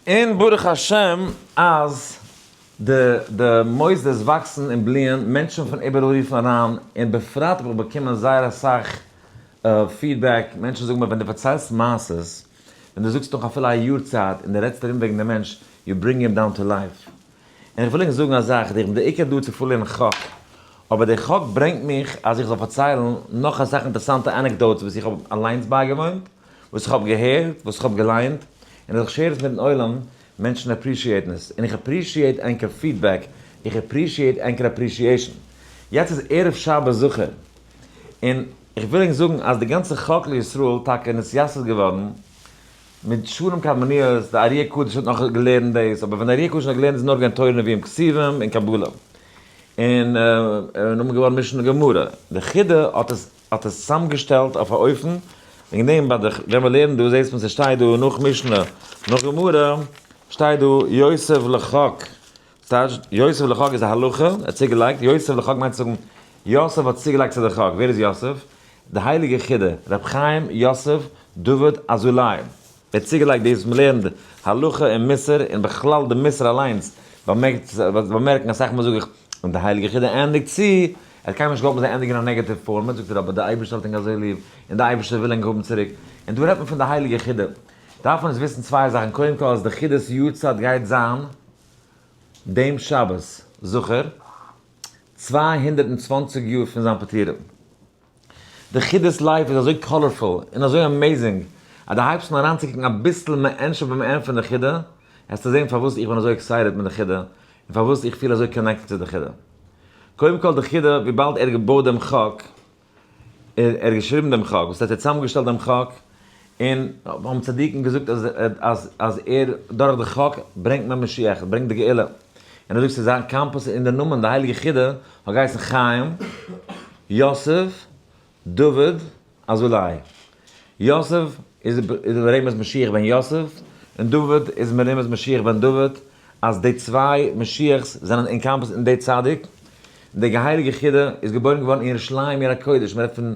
און ברוך השם אז די די מוסדות וואקסן און בליען, מענטשן פון איבעראל רופן אריין, און בפרט האב איך באקומען זייער אסאך פידבעק, מענטשן זאגן מיר ווען דו פארציילסט מעשות, ווען דו זאגסט נאך אפילו א יאר צייט און דו רעדסט ארום וועגן דעם מענטש, יו ברינג הים דאון טו לייף. און איך וויל ענק זאגן א זאך, איך בין בעיקר דא צו פארלערנען חק, אבער די חק ברענגט מיך אז איך זאל פארציילן נאך אסאך אינטערעסאנטע ענעקדאוטס וואס איך האב אליינס בייגעוואוינט, וואס איך האב געהערט, וואס איך האב געליינט, און אז איך שעיר עס מיטן עולם, מענטשן עפרישיעטן עס, און איך עפרישיעט ענקער פידבעק, איך עפרישיעט ענקער עפרישיעשן. יעצט איז ערב שבת זוכער, און איך וויל ענק זאגן אז די גאנצע חקל ישראל טאקע נתייסד איז געווארן מיט שנים קדמוניות, די אריה קדוש האט נאך געלערנט דאס, אבער ווען די אריה קדוש האט געלערנט איז נאר געווען תורה נביאים כתובים און קבלה, און און און געווארן משנה גמרא, די חידא האט עס האט עס צוזאמגעשטעלט אויף א אופן, וועגן דעם ביי די, ווען מען לערנט דא זעהט מען ס'שטייט דא נאך משנה נאך גמרא שטייט דא יוסף לחק, ס'טייטש יוסף לחק איז א הלכה, ער האט צוגעלייגט, יוסף לחק מיינט צו זאגן יוסף האט צוגעלייגט צו די חק, ווער איז יוסף? די הייליגע חידא, ר' חיים יוסף דוד אזולאי, ער האט צוגעלייגט דאס מען לערנט הלכה און מוסר און בכלל די מוסר אליינס באמערקט באמערקן אסאך מאל זאג איך און די הייליגע חידא ענדיגט צו ער האט קיינמאל נישט געהאלטן זיי ענדיגן אין א נעגאטיוו פארמעט זאגט ער אבער די אייבערשטער האט ענק אזוי ליב און די אייבערשטער וויל ענק האבן צוריק און דא רעדט מען פון די הייליגע חידא דארף מען עס וויסן צוויי זאכן קודם כל אז די חידות יאר צייט גייט זיין דעם שבת זוכער צוויי הונדערט און צוואַנציק יאר פון זיין פטירה. די חידות לייף איז אזוי קאלערפול און אזוי אמעיזינג אז דו הייבסט אן אריינצוקוקן אביסל מענטשער ביים ענד פון די חידה העסטו זען פארוואס איך בין אזוי עקסייטעד מיט די חידה און פארוואס איך פיל אזוי קאנעקטעד צו די חידה. קודם כל די חידה וויבאלד ער האט געבויט דעם חק, ער האט געשריבן דעם חק, וואס ער האט צוזאמגעשטעלט דעם חק, און האבן צדיקים געזאגט אז אז ער דורך די חק ברענגט מען משיח, ברענגט די גאולה, און אזוי צו זיין קאמפוס און די נאמען די הייליגע חידא האט געהייסן חיים, יוסף, דוד, אזולאי. יוסף איז איז מרומז משיח בן יוסף, און דוד איז מרומז משיח בן דוד, אז די צוויי משיח'ס זענען אינקאמפאסט אין די צדיק, די געהייליגע חידא איז געבוירן געווארן אין ירושלים עיר הקודש, מ'רעדט פון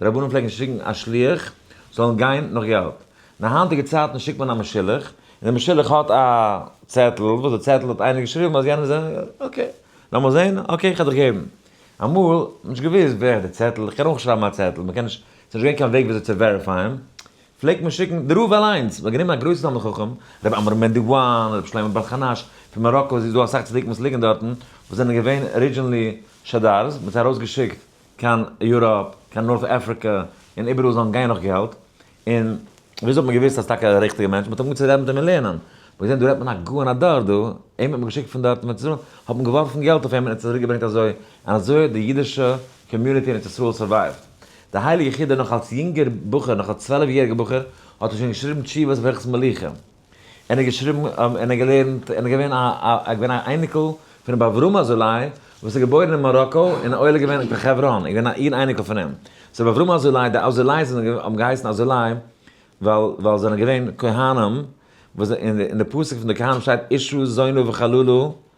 די רבנים פלעגן שיקן א שליח זאלן גיין נאך געלט. אין די היינטיגע צייטן שיקט מען א משולח, און דער משולח האט א צעטל, וואס די צעטל האט איינער געשריבן אז יענער זענען, אקעי, לאמיר זען, אקעי כ'על דיך געבן. אמאל, נישט געוואוסט ווער האט די צעטל, איך קען אויך נישט שרייבן א צעטל, מ'קען נישט, ס'איז נישט געווען קיין וועג וויאזוי צו וועריפייען, פלעגט מען שיקן די רב אליינס, מ'האט גענומען א גרויסן תלמיד חכם, ר' עמרם בן די וואן, ר' שלמה בעל חנש, פון מאראקא, ס'איז דא אסאך צדיקים וואס ליגן דארטן, וואס זענען געווען ארידזשינלי שדר'ס, מ'האט זיי ארויסגעשיקט, קיין יוראפ, קיין נארט אפריקע, און איבעראל זאלן גיין נאך געלט, און וויאזוי האט מען געוויסט אז טאקע א ריכטיגע מענטש, מען האט אנגעהויבן צו רעדן מיט אים און לערנען, מען האט געזען דא רעדט מען א גאון הדור דא, אים האט מען געשיקט פון דארט ארץ ישראל, האט מען געווארפן געלט אויף אים און ער האט צוריק געברענגט אזוי, און אזוי האט די אידישע קאמיוניטי אין ארץ ישראל סורווייווט. די הייליגע חידא נאך אלס יונגער בחור, נאך אלס צוועלף יעריגע בחור, האט ער שוין געשריבן תשובות וועלכעס מלוכה. ער האט געשריבן, און ער געלערנט, און ער געווען א, א, ער געווען א אייניקל פון רבי אברהם אזולאי, וואס איז געבוירן אין מאראקא, און עולה געווען קיין חברון, איז געווען א איר אייניקל פון אים. ס'איז רבי אברהם אזולאי, די אזולאיס זענען, האבן געהייסן אזולאי, ווייל, ווייל זיי זענען געווען כהנים, וואס, און די, און די פסוק פון די כהנים שטייט אישו זונו וחללו,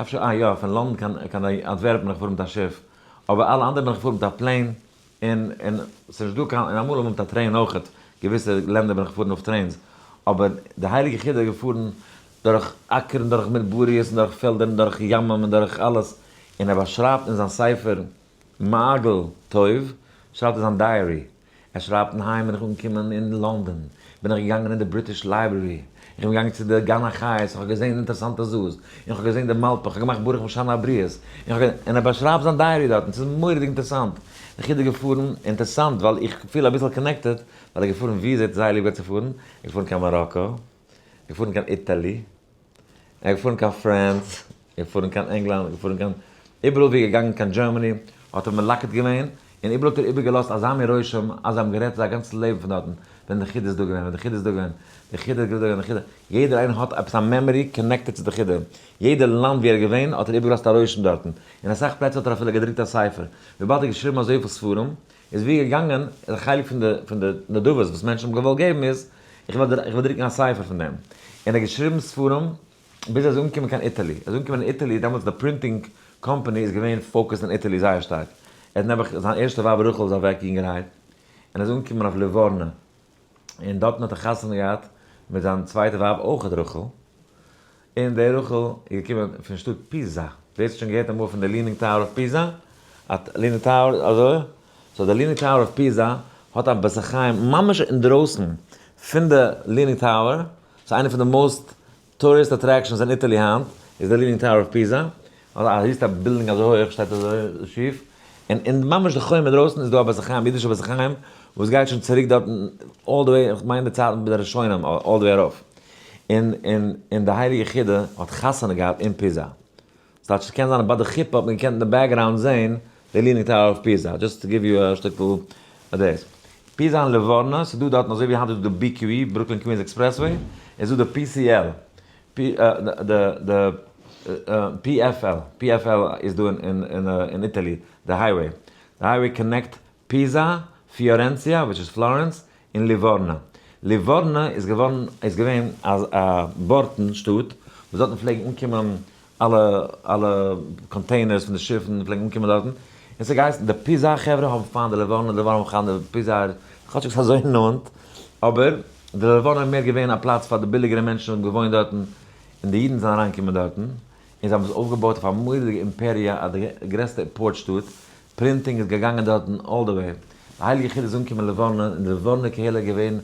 אפשר אה יא פון לאנדן קיין קיין אנטווערפן בין איך געפארן מיט א שיף, אבער אלע אנדערע בין איך געפארן מיט א פלעין, און און ס'איז נישט דא קיין, און אמאל אמאל מיט א טרעין אויכעט, געוויסע לענדער בין איך געפארן אויף טרעינס, אבער די הייליגע חידא איז געפארן דורך אקער און דורך מדבריות און דורך פעלדער און דורך ימים און דורך אלעס, און ער באשרייבט אין זיין ספר מעגל טוב שרייבט ער זיין דייערי. עס רייבט היים בין איך אנגעקומען אין לאנדאן בין איך געגאנגען אין די בריטיש לייברערי איך בין געגאנגען צו די גן החיות איך האב געזעהן אינטערסאנטע זאאס אין איך האב געזעהן די מאלפע איך האב געמאכט ברוך משנה הבריות אין איך האב אין ער באשרייבט זיין דייערי דארטן עס איז מוראדיג אינטערסאנט איך אידער געפארן אינטערסאנט ווייל איך פיל אביסעל קאנעקטעד ווייל ער געפארן ווי איז ער האט זייער ליב געהאט צו פארן ער איז געפארן קיין מאראקא. געפארן קיין איטעלי, ער געפארן קיין פרענס, געפארן קיין ענגלאנד, געפארן קיין, איבעראל ווי ער געגאנגען קיין דזשערמעני האט ער מלקט געווען, און איבעראל האט ער איבערגעלאזט אזא מין רושם אז זיי האבן גערעדט זייער גאנצן לעבן פון דארטן, ווען די חידא איז דא געווען, ווען די חידא איז דא געווען, די חידא איז געווען, די חידא, יעדער איינער האט עפעס א מעמארי קאנעקטעד צו די חידא, יעדע לאנד ווי ער איז געווען האט ער איבערגעלאזט א רושם דארטן, אין אסאך פלעצער האט ער אפילו געדרוקט א ספר, וויבאלד ער האט געשריבן אזויפיל ספרים, איז ווי געגאנגען די חלק פון די פון די נדבות וואס מענטשן האבן געוואלט געבן איז איך וועל איך וועל דרוקן א ספר פון דעם און ער האט געשריבן ספרים ביז ער איז אנגעקומען קיין איטעלי ער איז אנגעקומען אין איטעלי דעמאלטס די פרינטינג קאמפאני איז געווען פאוקעסד אין איטעלי זייער שטארק ער האט נעבעך זיין ערשטע ווייב רחל איז אוועק יונגערהייט און ער איז אנגעקומען אויף ליווארנא און דארטן האט ער חתונה געהאט מיט זיין צווייטע ווייב אויך רחל, און די רחל איז געקומען פון שטאט פיזא, ווער ס'האט שוין געהערט אמאל פון די ליענינג טאוער אויף פיזא, אט ליענינג טאוער אזוי, סאו די ליענינג טאוער אויף פיזא האט א בית החיים ממש אינדרויסן פון די ליענינג טאוער, ס'איז איינע פון די מאוסט טוריסט אטרעקשאנס אין איטעלי היינט איז די ליענינג טאוער אוו פיזא, א היסטא בילדינג אזוי הויעך שטייט אזוי שיף, און אין ממש די חומה דרויסן איז דא א בית החיים, אידישע בית החיים, וואס גייט שוין צוריק דארט אלל די וועי, כ'מיין די צייטן פון די ראשונים אלל די וועי ארויף, און און און די הייליגע חידא האט חתונה געהאט אין פיזא, ס'טייטש ס'קען זיין אז ביי די חופה האט מען געקענט אין די בעקגראונד זעהן די ליענינג טאוער אויף פיזא, דזשאסט טו גיוו יו א שטיקל דעיס. פיזא און ליווארנא, ס'איז דא דארטן אזוי ווי היינט איז דא די בי קיו אי, ברוקלין קווינס עקספרעסוועי, איז דא די פי סי על, די פי עף על, פי עף על איז דא אין איטעלי, די הייוועי, די הייוועי קאנעקט. פיזא, פיארענציע, וויטש איז פלארענס, און ליווארנא. ליווארנא איז געווארן איז געווען א א בארטן שטאט, וואס דארטן פלעגן אנקומען אלע אלע קאנטעינערס פון די שיפן פלעגן אנקומען דארטן, און ס'האט געהייסן די פיזא חברה האבן פיינט די ליווארנא, די ליווארנא האבן פיינט די פיזא'ער, כאטשיג ס'איז אזוי נאנט, אבער די ליווארנא איז מער געווען א פלאץ פאר די ביליגערע מענטשן וואס האבן געוואוינט דארטן, און די אידן זענען אריינגעקומען דארטן, און זיי האבן עס אויפגעבויט אויף א מורא'דיגע אימפעריע, א די גרעסטע פארט שטאט, פרינטינג איז געגאנגען דארטן אלל די וועי. די הייליגע חיד איז אנגעקומען לבורנא און די לבורנא קהילה איז געווען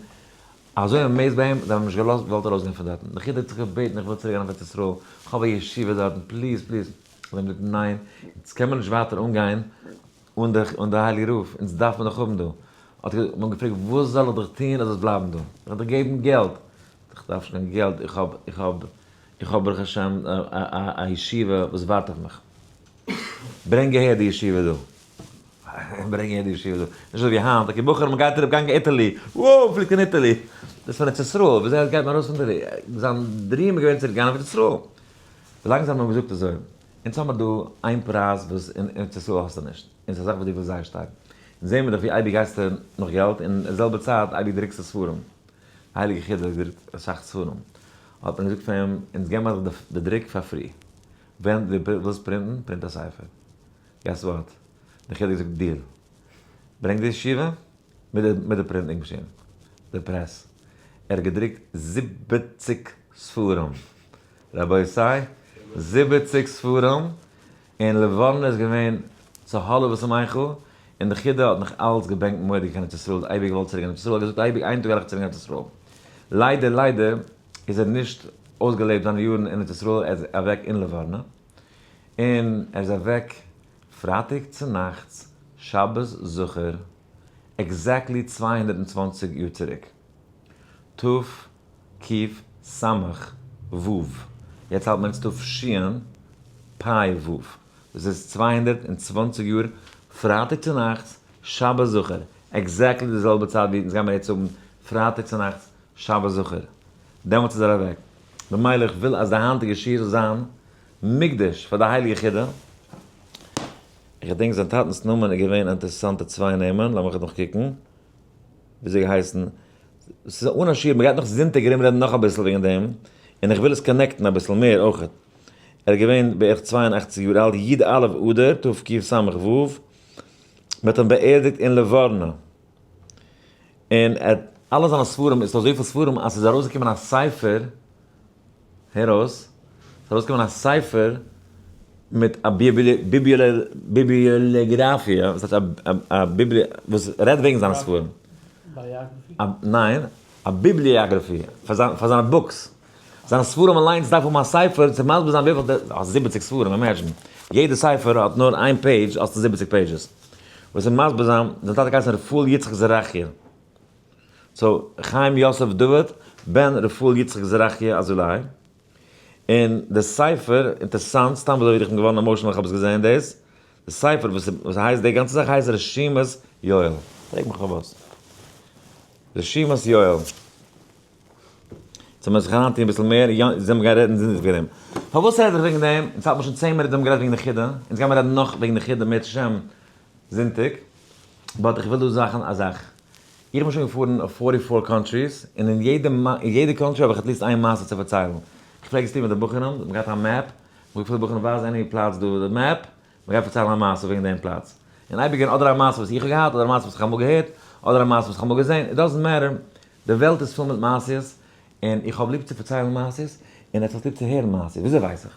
אזוי אמעיזד ביי אים, זיי האבן אים נישט געלאזט געוואלט ארויסגיין פון דארטן. די חיד האט זיך געבעטן איך וויל צוריק גיין אויף ארץ ישראל, איך האב א ישיבה דארטן, פליז פליז. זיי האבן געזאגט ניין, אונז קען מען נישט ווייטער אנגיין אן די הייליגע רב, אונז דארף מען דיך האבן דא. האט ער אים געפרעגט וואס זאל איך דיך טון אז דו זאלסט בלייבן דא? זאל איך דיך געבן געלט? איך דארף נישט קיין געלט, איך האב איך האב איך האב ברוך השם א ישיבה וואס ווארט אויף מיך. ברענג אהער די ישיבה דא. ברענג אהער די ישיבה דא. נישט אזוי ווי היינט, אקעי בחורים מען גייט אראפ גיין קיין איטעלי, וואו פליט קיין איטעלי. דאס איז פון ארץ ישראל, ווי אזוי גייט מען ארויס פון די, זיין דריעם איז געווען צוריק גיין ארץ ישראל. ווילאנג זיי האבן אים געזאגט אזוי, אונז האבן מיר דא איין פרייז וואס אין ארץ ישראל האסטו נישט, און ס'איז א זאך וואס דו ווילסט זייער שטארק, אונז זעהן מיר דאך ווי אייביג גייסטו נאך געלט, און אין די זעלבע צייט אייביג דרוקסטו ספרים, א הייליגע חידא דרוקט אסאך ספרים, האט מען געזאגט פאר אים, אונז געבן מיר דאך די דרוק פאר פרי. ווען דו ווילסט פרינטן, פרינט א ספר. געס וואט? די חילוק זאגט דיר. ברענג די ישיבה מיט די פרינטינג מאשין. די פרעס. ער האט געדרוקט זיבעציק ספרים. רבותי! זיבעציק ספרים! און לבנה איז געווען צו האלב וואס מיין חו, און די חידא האט נאך אלץ געבענקט מוראדיג קיין ארץ ישראל, אייביג געוואלט צוריק גיין ארץ ישראל, האט געזאגט אייביג איין טאג גיי איך צוריק גיין ארץ ישראל. ליידער ליידער איז ער נישט אויסגעלעבט זיינע יארן אין ארץ ישראל, ער איז אוועק אין לבנון, און ער איז אוועק פרייטאג צונאכטס שבת זכור, עקזעקטלי צוויי הונדערט און צוואַנציק יאר צוריק, תרפ ק סמכ ו, יעצט האלט מען אונז תרפ ש פ ו, דאס איז צוויי הונדערט און צוואַנציק יאר פרייטאג צונאכטס שבת זכור, עקזעקטלי די זעלבע צייט ווי אונז גיימיר יעצט האבן פרייטאג צונאכטס שבת זכור. דעמאלטס איז ער אוועק. במילא איך וויל אז די היינטיגע שיעור זאל זיין מוקדש פאר די הייליגע חידא. איך געדענק זיין טאטנס נאמען איז געווען אינטערעסאנטע צוויי נעמען, לאמיך נאך קוקן. ווי האט ער געהייסן? ס'איז אן א שיעור, מ'גייט נאך זונטאג ארום רעדן נאך אביסל וועגן דעם, און איך וויל עס קאנעקטן אביסל מער אויך. ער איז געווען בערך צוויי און אַכציק יאר אלט, י ד א' אדר תקס ו, מ'האט אים באערדיגט אין ליווארנא. און ער האט אלע זיינע ספרים, עס איז אזויפיל ספרים אז עס איז ארויסגעקומען א ספר, הער אויס, עס איז ארויסגעקומען א ספר מיט א ביבליאגראפיע, וואס הייסט א ביבליע, וואס רעדט וועגן זיינע ספרים. א, ניין, א ביבליאגראפיע, פאר זיינע בוקס. זיינע ספרים אליינס דארף האבן א ספר צו מסביר זיין וויפיל די, האסט זיבעציג ספרים, אימעדזשין, יעדע ספר האט נאר איין פעידזש האסטו זיבעציג פעידזשעס, וואס איז מסביר זיין, זיין טאטע האט געהייסן רפאל יצחק זרחיה, סאו חיים יוסף דוד בן רפאל יצחק זרחיה אזולאי, און די ספר, אינטערסאנט, סתם אזוי איך בין געווארן עמאושענעל איך האב עס געזעהן דאס, די ספר וואס איז הייסט די גאנצע זאך הייסט רשימת יואל, פרעג מיך פארוואס, רשימת יואל. זאל מען זיך אריינטון אביסל מער, יא, זאל מען גיין רעדן זינדיג וועגן דעם. פארוואס רעד איך וועגן דעם? אונז האט מען שוין צען מינוט האבן גערעדט וועגן די חידה, אונז גיימער רעדן נאך וועגן די חידה מערצט השם זונטאג, באט איך וויל דא זאכן א זאך, איך בין שוין געפארן אויף פֿאָרטי פֿאָר קאנטריס, און אין יעדע אין יעדע קאנטרי האב איך עטליסט איין מעשה צו פארציילן, איך פלעג עס טון מיט די בחורים, מען האט געהאט א מעפ, מען האט געפרעגט די בחורים ווייז עני פלאץ דא אויף די מעפ, מ'גייט פארציילן א מעשה וועגן דעם פלאץ, און אייביג געבן אדער א מעשה וואס איך האב געהאט, אדער א מעשה וואס איך האב אמאל געהערט, אדער א מעשה וואס איך האב אמאל געזען, איט דאזענט מעטער, די וועלט איז פול מיט מעשיות, און איך האב ליב צו פארציילן מעשיות, און עטס האסט ליב צו הערן מעשיות, וויאזוי ווייס איך?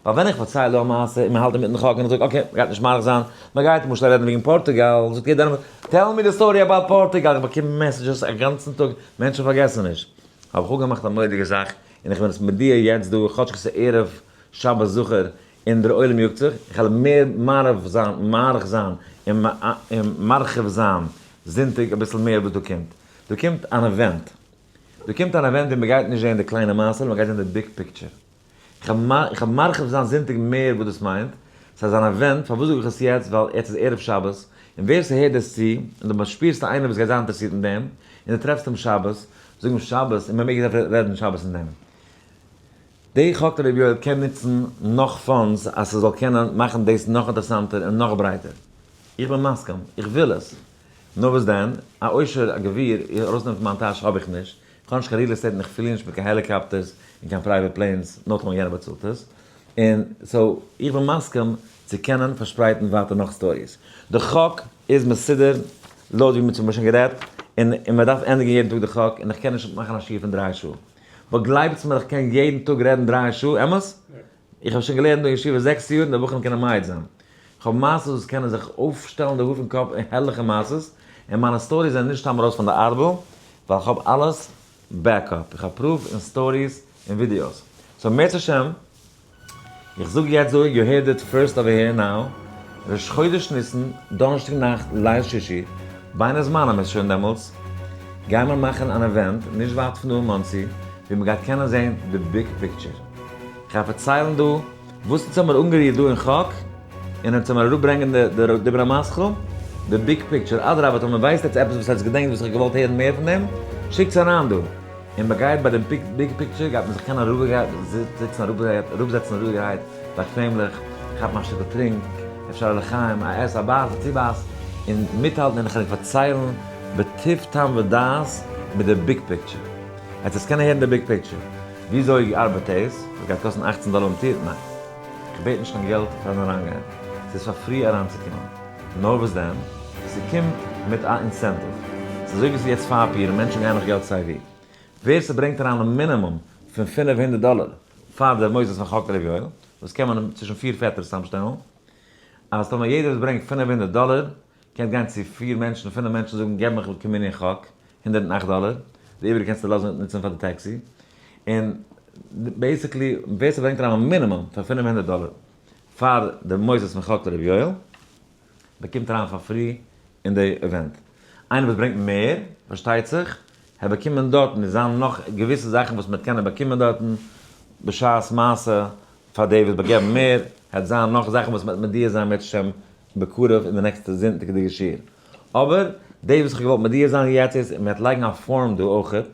ווייל ווען איך פארצייל דא א מעשה, און מ'האלט אינמיטן חק, און איך זאג אקעי, מ'גייט נישט מאריך זיין, מ'גייט למשל רעדן וועגן פארטוגאל, זאגט יעדער איינמאל, טעל מי די סטארי אבאוט פארטוגאל, איך באקום מעסעדזשעס א גאנצן טאג, מענטשן פארגעסן נישט. האב איך אפגעמאכט א מורא'דיגע זאך, און איך בין עס מודיע יעצט דא, כאטש כ'איז ערב שבת זכור, און דער עולם יאגט זיך, איך העל מער מאריך זיין, מאריך זיין, און מרחיב זיין, זונטאג אביסל מער וואס דא קומט, דא קומט אן אווענט, דא קומט אן אווענט ווי מען גייט נישט זעהן די קליינע מעשה'לע, מען גייט זעהן די ביג פיקטשער. איך העל מרחיב זיין זונטאג מער וואס דאס מיינט, סאיז אן אווענט, פארוואס זאג איך עס יעצט, ווייל יעצט איז ערב שבת, און ווער סהערט דאס צו, און דו שפירסט איינער וואס גייט זיין אינטערעסירט אין דעם, און דו טרעפסט אים שבת, זאג אים שבת, און מען מעג רעדן שבת אין דעם. די ח ק רבי יואל קען נוצן נאך פאנדס אז ס'זאל קענען מאכן דאס נאך אינטערעסאנטער און נאך ברייטער. איך בין מסכים, איך וויל עס. נאר וואס דען? א עושר, א גביר, ארויסנעמען פון מיין טאש האב איך נישט. איך האב נישט קיין ריעל עסטעיט און איך פלי נישט מיט קיין העליקאפטערס און קיין פרייוועט פלענס, נאר טאמער יענער באצאלט עס. און סאו, איך בין מסכים צו קענען פארשפרייטן ווייטער נאך סטאריס. די ח ק איז מסודר לויט ווי מ'האט שוין גערעדט, און מ'דארף ענדיגן יעדן טאג די ח ק, און איך קען נישט מאכן א שיעור פון דריי שעה. וואו גלייבטס מיר איך קען יעדן טאג רעדן דרײַ שעה, אמת? איך האב שוין געלערנט דא אין ישיבה זעקס יאר און די בחורים קענען מעיד זיין. איך האב מעשות וואס קענען זיך אויפשטעלן די האר פון קאפ און הערליכע מעשות, און מיינע סטאריס זענען נישט סתם ארויס פון די ארבל, ווייל איך האב אלעס בעק-אפ, איך האב פרוף און סטאריס און ווידיאוס. סאו מערצעשעם. איך זאג יעצט דא, יו הערד איט פירסט אווער העיר נאו, ראש חודש ניסן, דאנערשטאג נאכט, ליל שישי, בין הזמנים איז שוין דעמאלטס, גייען מיר מאכן אן אווענט נישט ווייט פון דא אין מאנסי, ווי מען גייט קענען זען די ביג פיקטשער. כ'גיי פארציילן דא וואס אונז האמיר אנגערירט דא אין חק, און אונז האמיר אראפברענגען די די די דיבר המסכם, די ביג פיקטשער, אדרבה טאמער ווייסט עטץ עפעס וואס עטץ געדענקט וואס איך האב געוואלט הערן מער פון דעם, שיקטס אריין דא. און מען גייט ביי די ביג פיקטשער גייט מען זיך קענען אראפגעהייט זיצן אראפגעהייט אראפזעצן אראפגעהייט באקוועמליך כאפן א שטיקל טרינק אפשר א לחיים א עס א בייס א צובייס און מיטהאלטן און כ'וועל פארציילן בטוב טעם ודעת מיט די ביג פיקטשער עטס עטס קענען הערן די ביג פיקטשער וויאזוי ארבעט דאס עס גייט קאסטן אַכצן דאלער אומטירט ניין כ'בעט נישט קיין געלט פארן אריינגיין ס'איז פאר פרי אריינצוקומען. נאר וואס דען? ס'קומט מיט א אינסענטיוו. ס'איז אזוי ווי ס'איז יעצט פארפיר און מענטשן גייען נאך געלט סיי ווי. ווער ס'ברענגט אריין א מינימום פון פינף הונדערט דאלער פאר די מוסדות פון חק רבי יואל, וואס קען מען צווישן פיר פעטערס צאמשטעלן, אז טאמער יעדער וואס ברענגט פינף הונדערט דאלער קען גיין צו פיר מענטשן און פינף מענטשן זאגן געב מיך כמנין חק הונדערט און אכט דאלער, די איבעריגע קענסטו לאזן נוצן פאר די טעקסי. און בעיסיקלי ווער ס'ברענגט אריין א מינימום פון פינף הונדערט דאלער. פאר די מוסדות פון חק ר' יואל, מען קומט אריין פאר פרי אין די אווענט, איינער וואס ברענגט מער פארשטייט זיך, העט באקומען דארטן, עס זיין נאך געוויסע זאכן וואס מען העט קענען באקומען דארטן בשעת מעשה, פאר די וואס באגעבן מער, העט זיין נאך זאכן וואס מען העט מודיע זיין בעז השם בקרוב אין די נעקסטע זונטאג די געשיר, אבער דאס וואס איך האב געוואלט מודיע זיין יעצט איז, מען העט לייגן א פארום דא אויכעט,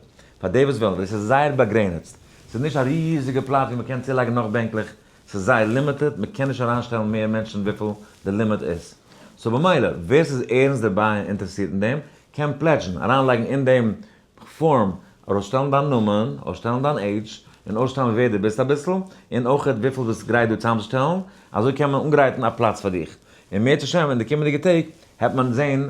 פאר די וואס ווילן, ווייל עס איז זייער באגרעניצט, עס איז נישט א ריזיגע פלאץ ווי מען קען צולייגן נאך בענקלעך, ס'איז זייער לימיטעד, מ'קען נישט אריינשטעלן מער מענטשן וויפיל די לימיט איז. סאו במילא, ווער ס'איז ערנסט דערביי און אינטערעסירט אין דעם, קען פלעדזשן, אריינלייגן אין דעם פארם, ארויסשטעלן דיין נאמען, אויסשטעלן דיין עידזש, און אויסשטעלן ווער דו ביסט אביסל, און אויך וויפיל ביסט גרייט דא צוזאמצושטעלן, אזוי קען מען אנגרייטן א פלאץ פאר דיך. און מערצ השם אין די קומענדיגע טעג העט מען זען,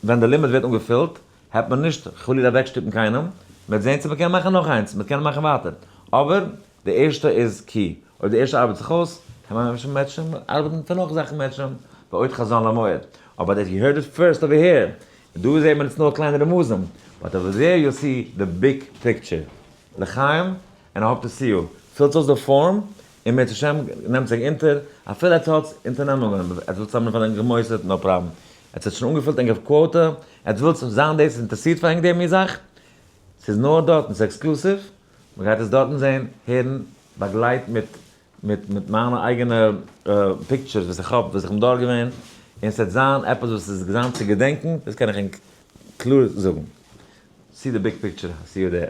ווען די לימיט ווערט אנגעפילט, העט מען נישט חלילה אוועקשטופן קיינעם, מ'וועט זען צו מ'קען מאכן נאך איינס, מ'קען מאכן ווייטער, אבער די ערשטע איז כי, אויב די ערשטע ארבעט זיך אויס, קען מען ממשיך מעטשען, ארבעטן מיט די נאך זאכן מעטשען, ועוד חזון למועד. אבער דעט יו הערד איט פירסט אווער העיר, און דא זעהט מען עס נאר קליינע רמזים, באט אווער דעיר יו סי די ביג פיקטשער. לחיים, ענד איי האפ טו סי יו, פילט אויס די פארם, און בעזהשי ת נעמט זיך אונטער, אפילו עטס האטס אונטערנעמונגען, עטס ווילט צוזאמען פאר ענק גע'מוסר'ט, נאו פראבלעם, עטס האט שוין אנגעפילט ענקער קוואטע, עטס ווילט זיין דאס אינטערסירט פאר ענק די מין זאך, ס'איז נאר דארט און ס'איז עקסקלוסיוו. מען גייט עס דארטן זען, הערן, באגלייט מיט מיט מיט מיינע אייגענע פיקטשערס וואס איך האב, וואס איך בין דארט געווען, און ס'וועט זיין עפעס וואס איז געזאמט צו געדענקן, דאס קען איך ענק קלאר זאגן. סי די ביג פיקטשער, סי יו דער.